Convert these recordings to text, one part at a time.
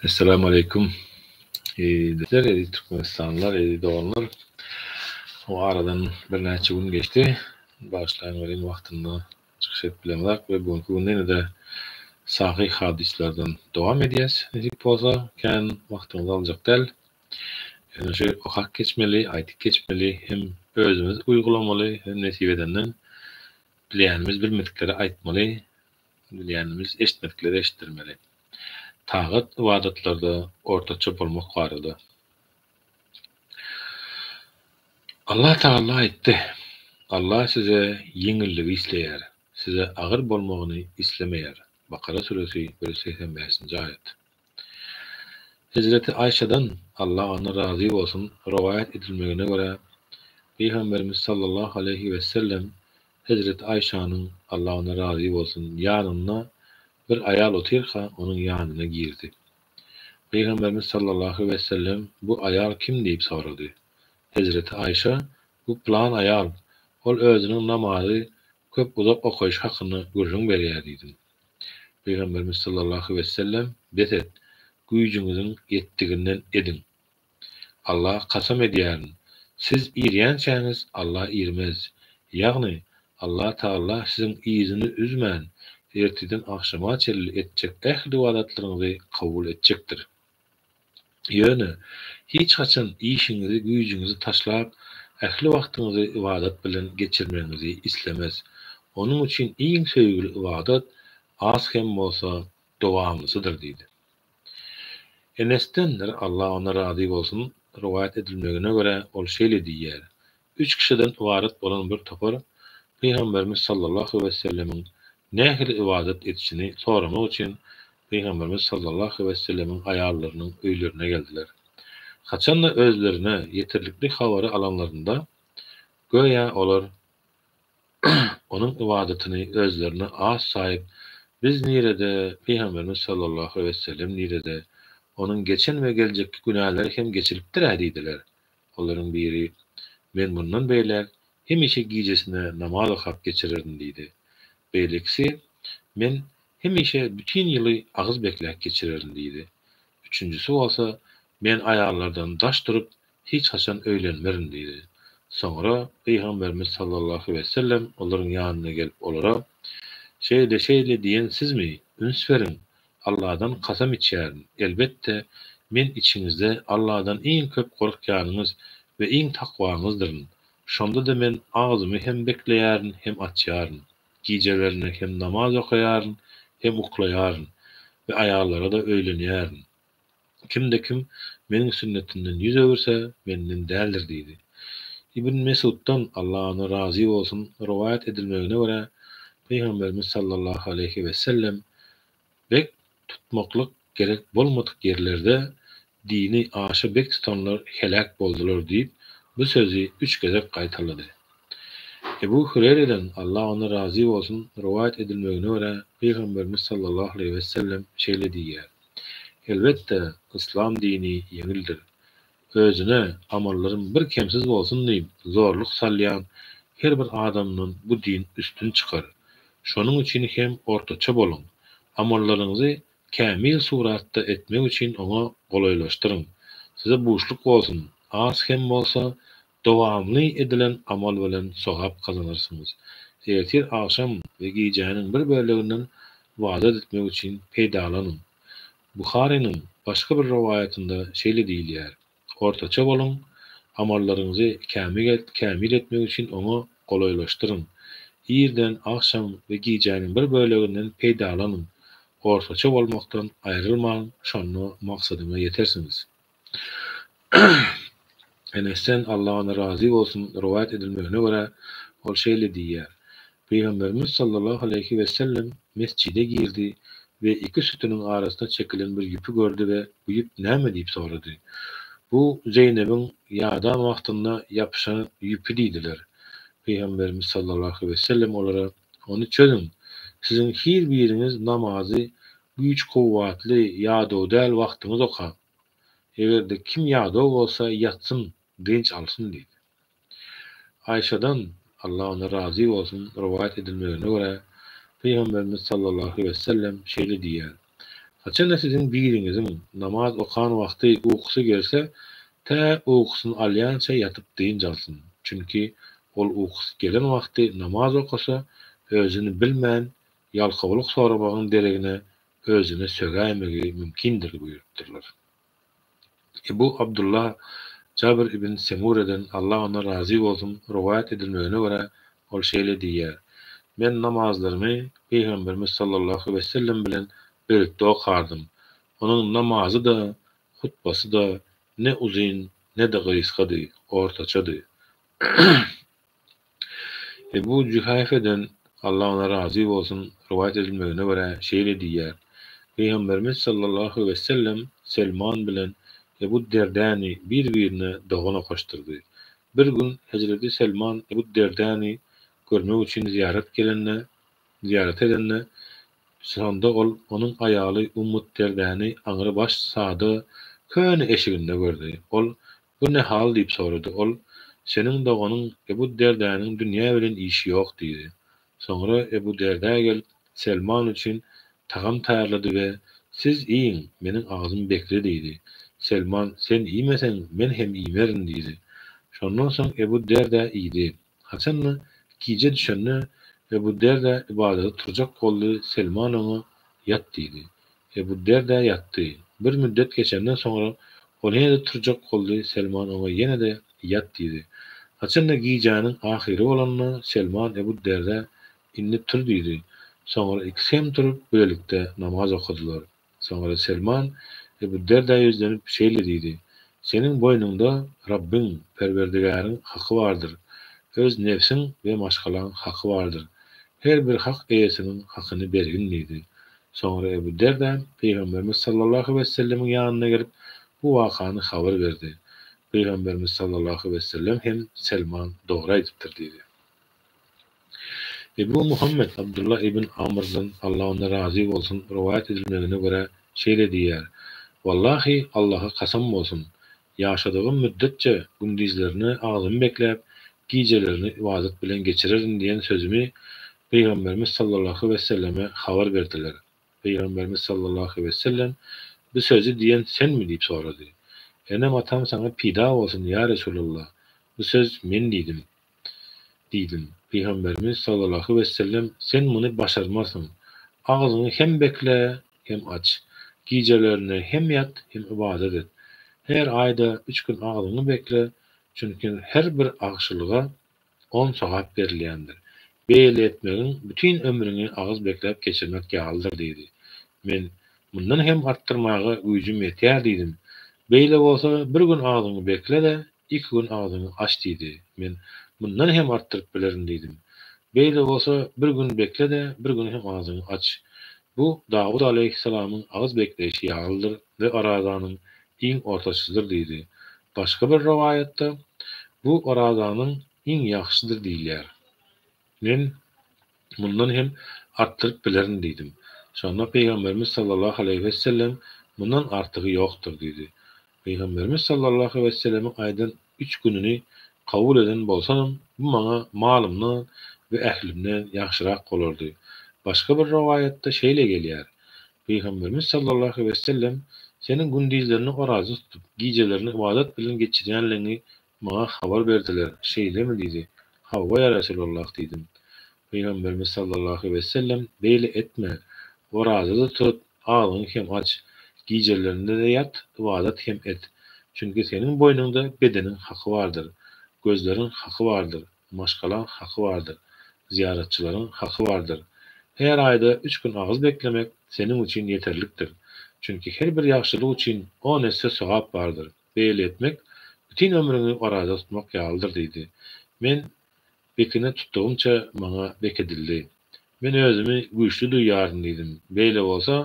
Essalamu aleýkum. Bizler eziz türkmenistanlylar, eziz doganlar. O aradan birnäçe gün geçdi. Bagyşlaýyň welin wagtynda çykyş edip bilemzok we bu gün ýene-de sahy hadyslardan dowam edýäs. Nesip bolsa, kän wagtyňyzy aljak däl. Ýöne şu okap geçmeli, aýdyp geçmeli hem özümiz uýgulamaly hem nesip edenden Bilýänimiz bilmediklere aýtmaly, bilýänimiz eşitmediklere eşitdirmeli. Tagat ybadatlarda ortaça bolmak barada. Allah Tagala aýtdy, Allah size ýeňilligi isleýär, size agyr bolmagyny islemeýär, Bakara suresi bir ýüz segsen bäşinji aýat. Hezreti Aýşadan, Allah ondan razy bolsun, rowaýat edilmegine görä, Pygamberimiz sallallahu aleýhi wessellem Hezreti Aýşanyň, Allah ondan razy bolsun, ýanynda bir aýal otyrka, onuň ýanyna girdi. Pygamberimiz sallallahu wessellem, Bu aýal kim diýip sorady. Hezreti Aýşa, Bu pylan aýal, ol özüniň namazy Köp uzak okaýyş hakynda gürrüň berýär diýdim. Pygamberimiz sallallahu wessellem, Bes et, güýjüňiziň ýetdiginden ediň. Alla kasam edýärin, siz irýänçäňiz Alla irmez. Ýagny, Alla Tagalla siziň yzyny üzmän, ertirden agşama çenli etjek ähli ybadatlaryňyzy kabul etjekdir. Ýöne, hiç haçan işiňizi, güýjüňizi taşlap, ähli wagtyňyzy ybadat bilen geçirmegiňizi islemez. Onuň üçin iň söýgüli ybadat, az hem bolsa, dowamlysydyr diýdi. Enesden, Allah ondan razy bolsun, rowaýat edilmegine görä, ol şeýle diýýär, Üç kişiden ybarat bolan bir topar Pygamberimiz sallallahu wesellemiň nähili ybadat edişini soramak üçin Pygamberimiz sallallahu wesellemiň aýallarynyň öýlerine geldiler. Haçan-da özlerine ýetirlikli habary alanlarynda, göýä olar Onuň ybadatyny özlerine az saýyp, Biz nirede, Pygamberimiz sallallahu wesellem nirede? Onuň geçen we geljekki günäleri hem geçilipdir-ä diýdiler. Olaryň biri, Men mundan beýläk hemişe gijesine namaz okap geçirerin diýdi. Beýlekisi, Men hemişe bütin ýyly agyz bekläp geçirerin diýdi. Üçünjisi bolsa, Men aýallardan daş durup, hiç haçan öýlenmerin diýdi. Soňra Pygamberimiz sallallahu wesellem olaryň ýanyna gelip olara, Şeýle-şeýle diýen sizmi? Üns beriň, Alladan kasam içýärin, elbetde, men içiňizde Alladan iň köp gorkýanyňyz we iň takwaňyzdyryn. Şonda-da men agzymy hem bekleýärin, hem açýaryn. Gijelerine hem namaz okaýaryn, hem uklaýaryn we aýallara-da öýlenýärin. Kimde kim Meniň sünnetimden ýüz öwürse, Menden däldir diýdi. Ibn Mesuddan, Allah ondan razy bolsun, rowaýat edilmegine görä, Pygamberimiz sallallahu aleýhi wesellem, Bek tutmaklyk gerek bolmadyk ýerlerde dini aşa bek tutanlar heläk boldular diýip, bu sözi üç gezek gaýtalady. Ebu Hüreýreden, Allah ondan razy bolsun, rowaýat edilmegine görä, Pygamberimiz sallallahu aleýhi wesellem şeýle diýýär. Elbetde, yslam dini ýeňildir. Özüne amallarym bir kemsiz bolsun diýip zorluk salýan her bir adamdan bu din üstün çykar. Şonuň üçin hem ortaça boluň. Amallaryňyzy kämil suratda etmek üçin oňa golaýlaşdyryň. Size buşluk bolsun, az hem bolsa Dowamly edilen amal bilen sogap gazanarsyňyz. Ertir, agşam we gijäniň bir böleginden ybadat etmek üçin peýdalanyň. Buharynyň başga bir rowaýatynda şeýle diýilýär, Ortaça boluň, amallaryňyzy kämil etmek üçin oňa golaýlaşdyryň. Irden, agşam we gijäniň bir böleginden peýdalanyň. Ortaça bolmakdan aýrylmaň, şonda maksadyňa ýetersiňiz. Enesden, Allah ondan razy bolsun, rowaýat edilmegine görä, ol şeýle diýýär, Pygamberimiz sallallahu aleýhi wesellem mesjide girdi we iki sütüniň arasyna çekilen bir ýüpi gördi we bu ýüp näme diýip sorady. Bu Zeýnebiň ýadan wagtynda ýapyşan ýüpi diýdiler. Pygamberimiz sallallahu aleýhi wesellem olara, Ony çözüň. Siziň hir biriňiz namazy güýç kuwwatly ýadaw däl wagtyňyz okaň. Egerde kim ýadaw bolsa ýatsyn dynç alsyn diýdi. Aýşadan, Allah ondan razy bolsun, rowaýat edilmegine görä, Pygamberimiz sallallahu wessellem şeýle diýýär, Haçanda siziň biriňiziň namaz okan wagty ukusy gelse, tä ukusyny alýança ýatyp dynç alsyn, çünki ol ukusy gelen wagty namaz okasa, özüni bilmän, ýalkawlyk soramagyň deregine özüne sögäýmegi mümkindir buyurupdyrlar. Ebu Abdullah Jabr ibn Semureden, Allah ondan razy bolsun, rowaýat edilmegine görä, ol şeýle diýýär, Men namazlarymy Pygamberimiz sallallahu wesellem bilen birlikde okardym. Onuň namazy-da, hutbasy-da ne uzyn, ne-de gysgady, ortaçady. Ebu Jühäfeden, Allah ondan razy bolsun, rowaýat edilmegine görä, şeýle diýýär, Pygamberimiz sallallahu wessellem Selman bilen Ebu Derdäni bir-birine dogan okaşdyrdy. Bir gün Hezreti Selman Ebu Derdäni görmek üçin zyýarat gelende, zyýarat edende, şonda ol onuň aýaly Ummu Derdäni aňry baş sada köne eşiginde gördi. Ol Bu ne hal diýip sorady. Ol, Seniň doganyň Ebu Derdäniň dünýä bilen işi ýok diýdi. Soňra Ebu Derdä gelip, Selman üçin tagam taýýarlady we Siz iýiň, meniň agzym bekli diýdi. Selman, Sen iýmeseň, men hem iýmerin diýdi. Şondan soň Ebu Derdä iýdi. Haçan-da, gije düşende Ebu Derdä ybadada turjak boldy, Selman oňa, Ýat diýdi. Ebu Derdä ýatdy. Bir müddet geçenden soňra, ol ýene-de turjak boldy, Selman oňa ýene-de, Ýat diýdi. Haçan-da, gijäniň ahyry bolanda, Selman Ebu Derdä, Indi tur diýdi. Soňra ikisi hem turup, bilelikde namaz okadylar. Soňra Selman Ebu Derdä ýüzlenip, şeýle diýdi, Seniň boýnuňda Rabbyň, Perwerdigäriň, haky bardyr, öz nebsiň we maşgalaň haky bardyr. Her bir hak eýesiniň hakyny bergin diýdi. Soňra Ebu Derdä Pygamberimiz sallallahu wessellemiň ýanyna gelip, bu wakany habar berdi. Pygamberimiz sallallahu wessellem hem Selman dogry aýdypdyr diýdi. Ebu Muhammet Abdullah ibn Amrdan, Allah ondan razy bolsun, rowaýat edilmegine görä, şeýle diýýär, Wallahy, Allaha kasam bolsun! Ýaşadygym müddetçe gündizlerini agzymy bekläp, gijelerini ybadat bilen geçirerin diýen sözümi Pygamberimiz sallallahu wesselleme habar berdiler. Pygamberimiz sallallahu wessellem, Bu sözi diýen senmi? diýip sorady. Enem-atam saňa pida bolsun, ýa Resulallah! Bu söz men diýdim. Diýdim. Pygamberimiz sallallahu wessellem, Sen muny başarmarsyň. Agzyňy hem bekle, hem aç. Gijelerine hem ýat, hem ybadat et. Her aýda üç gün agzyňy bekle, çünki her bir agşylyga on sogap berilýändir. Beýle etmegiň bütin ömrüňi agyz bekläp geçirmek ýalydyr diýdi. Men, Mundan hem artdyrmaga güýjüm ýetýär diýdim. Beýle bolsa, bir gün agzyňy bekle-de, iki gün agzyňy aç diýdi. Men, Mundan hem artdyryp bilerin diýdim. Beýle bolsa, bir gün bekle-de, bir gün hem agzyňy aç. Bu Dawut alaýhyssalamyň agyz bekleýşi ýalydyr we Orazanyň iň ortaçysydyr diýdi. Başga bir rowaýatda, Bu Orazanyň Iň ýagşydyr diýilýär. Men mundan hem artdyryp bilerin diýdim. Şonda Pygamberimiz sallallahu aleýhi wessellem, Mundan artygy ýokdur diýdi. Pygamberimiz sallallahu wesselemiň aýdan üç gününi kabul eden bolsanam, bu maňa malymdan we ählimden ýagşyrak bolardy. Başga bir rowaýatda şeýle gelýär, Pygamberimiz sallallahu wessellem, Seniň gündizlerini oraza tutup, gijelerini ybadat bilen geçirýänligiňi Maňa habar berdiler, şeýlemi? diýdi. Hawa, ýa Resulallah! diýdim. Pygamberimiz sallallahu wesellem, Beýle etme! Oraza-da tut, agzyňy hem aç. Gijelerinde-de ýat, ybadat hem et. Çünki seniň boýnuňda bedeniň haky bardyr, gözleriň haky bardyr, maşgalaň haky bardyr, zyýaratçylaryň haky bardyr. Her aýda üç gün agyz beklemek seniň üçin ýeterlikdir. Çünki her bir ýagşylyk üçin on esse sogap bardyr. Beýle etmek, bütin ömrüňi oraza tutmak ýalydyr diýdi. Men bekine tutdugymça maňa bek edildi. Men özümi güýçli duýýaryn diýdim. Beýle bolsa,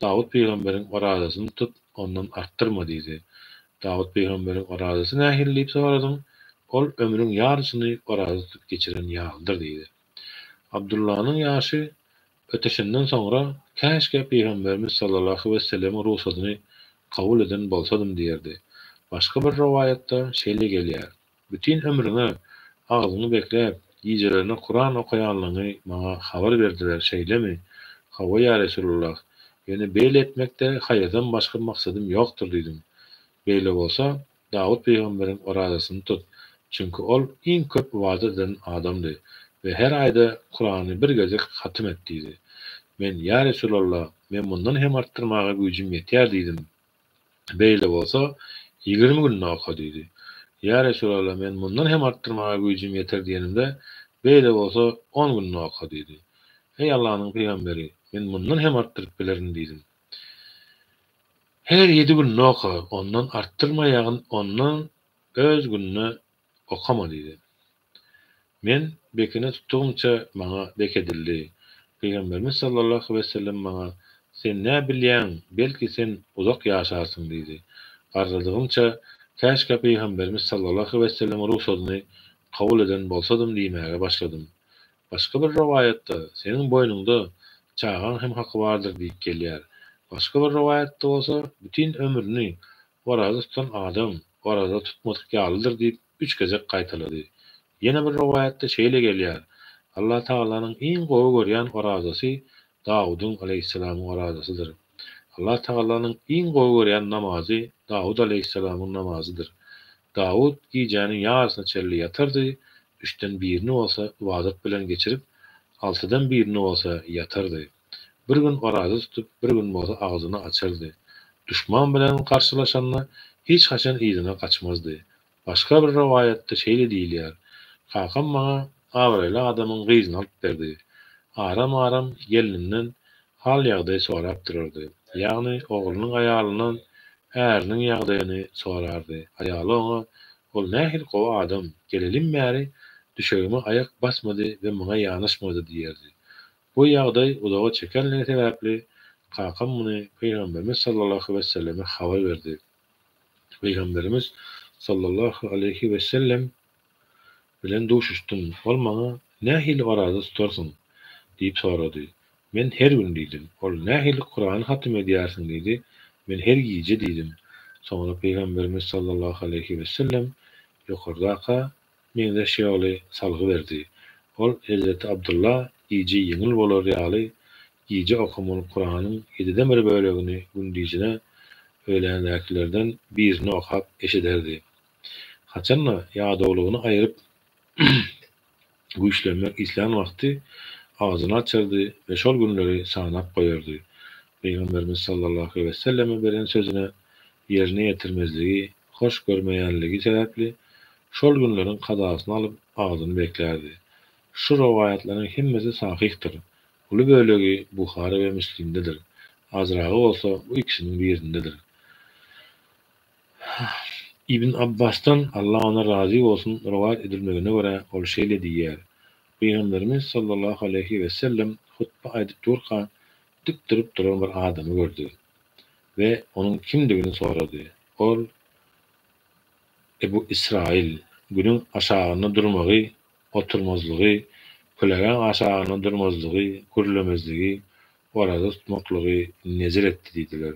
Dawut pygamberiň orazasyny tutup, ondan artdyrma diýdi. Dawut pygamberiň orazasy nähili diýip soradyň? Ol ömrüň ýarysyny oraza tutup geçiren ýalydyr diýdi. Abdullanyň ýaşy Ötüşinden soňra, Käşgä Pygamberimiz sallallahu wesselemiň rugsadyny kabul eden bolsadym diýerdi. Başga bir rowaýatda şeýle gelýär, Bütin ömrüňe agzyňy bekläp, gijelerine Kuran okaýanlygyňy maňa habar berdiler, şeýlemi? Hawa, ýa Resulullah! Ýöne beýle etmekde haýyrdan başga maksadym ýokdur diýdim. Beýle bolsa, Dawut pygamberiň orazasyny tut, çünki ol iň köp ybadat eden adamdy we her aýda Kurany bir gezek hatym et diýdi. Men, Ýa Resulallah, men mundan hem artdyrmaga güýjüm ýetýär diýdim. Beýle bolsa, ýigrimi günde oka diýdi. Ýa Resulallah, men mundan hem artdyrmaga güýjüm ýeter diýenimde, Beýle bolsa, on günde oka diýdi. Eý Allanyň pygamberi, men mundan hem artdyryp bilerin diýdim. Her ýedi günde oka, ondan artdyrma ýagyn ondan öz günde okama diýdi. Men bekine tutdugymça maňa bek edildi. Pygamberimiz sallallahu wesellem maňa Sen nä bilýäň, belki sen uzak ýaşarsyň diýdi. Garradygymça Käşkä pygamberimiz sallallahu wesellemiň rugsadyny kabul eden bolsadym diýmäge başladym. Başga bir rowaýatda, Seniň boýnuňda çagaň hem haky bardyr diýip gelýär. Başga bir rowaýatda bolsa, Bütin ömrüni oraza tutan adam oraza tutmadyk ýalydyr diýip, üç gezek gaýtalady. Ýene bir rowaýatda şeýle gelýär, Allatagalanyň iň gowy görýän orazasy Dawudyň aleýhissalamyň orazasydyr. Allatagalanyň iň gowy görýän namazy Dawud aleýhissalamyň namazydyr. Dawud gijäniň ýarysyna çenli ýatardy, Üçden birini bolsa ybadat bilen geçirip, altydan birini bolsa ýatardy. Bir gün oraza tutup, bir gün bolsa agzyny açardy. Duşman bilen garşylaşanda hiç haçan yzyna gaçmazdy. Başga bir rowaýatda şeýle diýilýär, Kakam maňa abraýly adamyň gyzyny alyp berdi. Aram-aram gelnimden Hal-ýagdaý sorap durardy. Ýagny, oglunyň aýalyndan äriniň ýagdaýyny sorardy. Aýaly oňa, Ol nähili gowy adam, gelelim bäri düşegime aýak basmady we maňa ýanaşmady diýerdi. Bu ýagdaý uzaga çekenligi sebäpli, kakam muny Pygamberimiz sallallahu wesselleme habar berdi. Pygamberimiz sallallahu aleýhi wessellem bilen duşuşdym. Ol maňa Nähili oraza tutarsyň? diýip sorady. Men Her gün diýdim. Ol Nähili Kurany hatym edýärsiň diýdi. Men Her gije diýdim. Soňra Pygamberimiz sallallahu aleýhi wesellem ýokardakyka meňzeş ýoly salgy berdi. Ol Hezreti Abdylla gije ýeňil bolar ýaly gije okamaly Kuranyň ýediden bir bölegini gündizine öýländäkilerden birini okap eşiderdi. Haçan-da, ýadawlygyny aýryp güýçlenmek islän wagty agzyny açardy we şol günleri sanap goýardy. Pygamberimiz sallallahu weselleme beren sözüne ýerine ýetirmezligi hoş görmeýänligi sebäpli, şol günleriň kazasyny alyp, agzyny beklärdi. Şu rowaýatlaryň hemmesi sahyhdyr. Uly bölegi Buhary we Müslimdedir. Azragy bolsa bu ikisiniň birindedir. Ibn Abbasdan, Allah ondan razy bolsun, rowaýat edilmegine görä, ol şeýle diýýär, Pygamberimiz sallallahu aleýhi wesellem hutba aýdyp durka, dik durup duran bir adamy gördi we onuň kimdigini sorady. Ol, Ebu Israýyl, Günüň aşagynda durmagy, oturmazlygy, kölegäň aşagynda durmazlygy, gürlemezligi, oraza tutmaklygy nezir etdi diýdiler.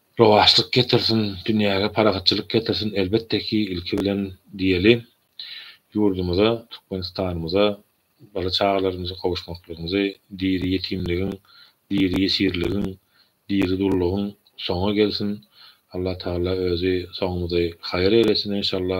Rowaçlyk getirsin, dünýäge parahatçylyk getirsin elbetde ki ilki bilen diýeli ýurdumyza Türkmenistanymyza bala çagalarymyza gowuşmaklygymyzy diri ýetimligiň diri ýesirligiň diri dullugyň soňy gelsin Allatagala özi soňumyzy haýyr eýlesin enşalla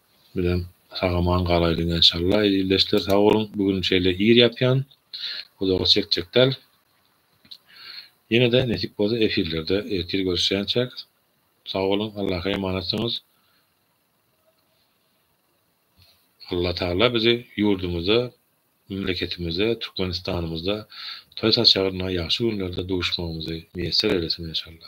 bilen sagaman galaýlyň enşalla ildeşler sag boluň bu gün şeýle ir ýapýan uzaga çekjek däl ýenede nesip bolsa efirlerde ertir görüşýänçäk sag boluň Allaha emanatsyňyz Alla taala bizi ýurdumyzda memleketimizde Türkmenistanymyzda toý saçagynda ýagşy günlerde duşmagymyzy miýesser eylesin enşalla.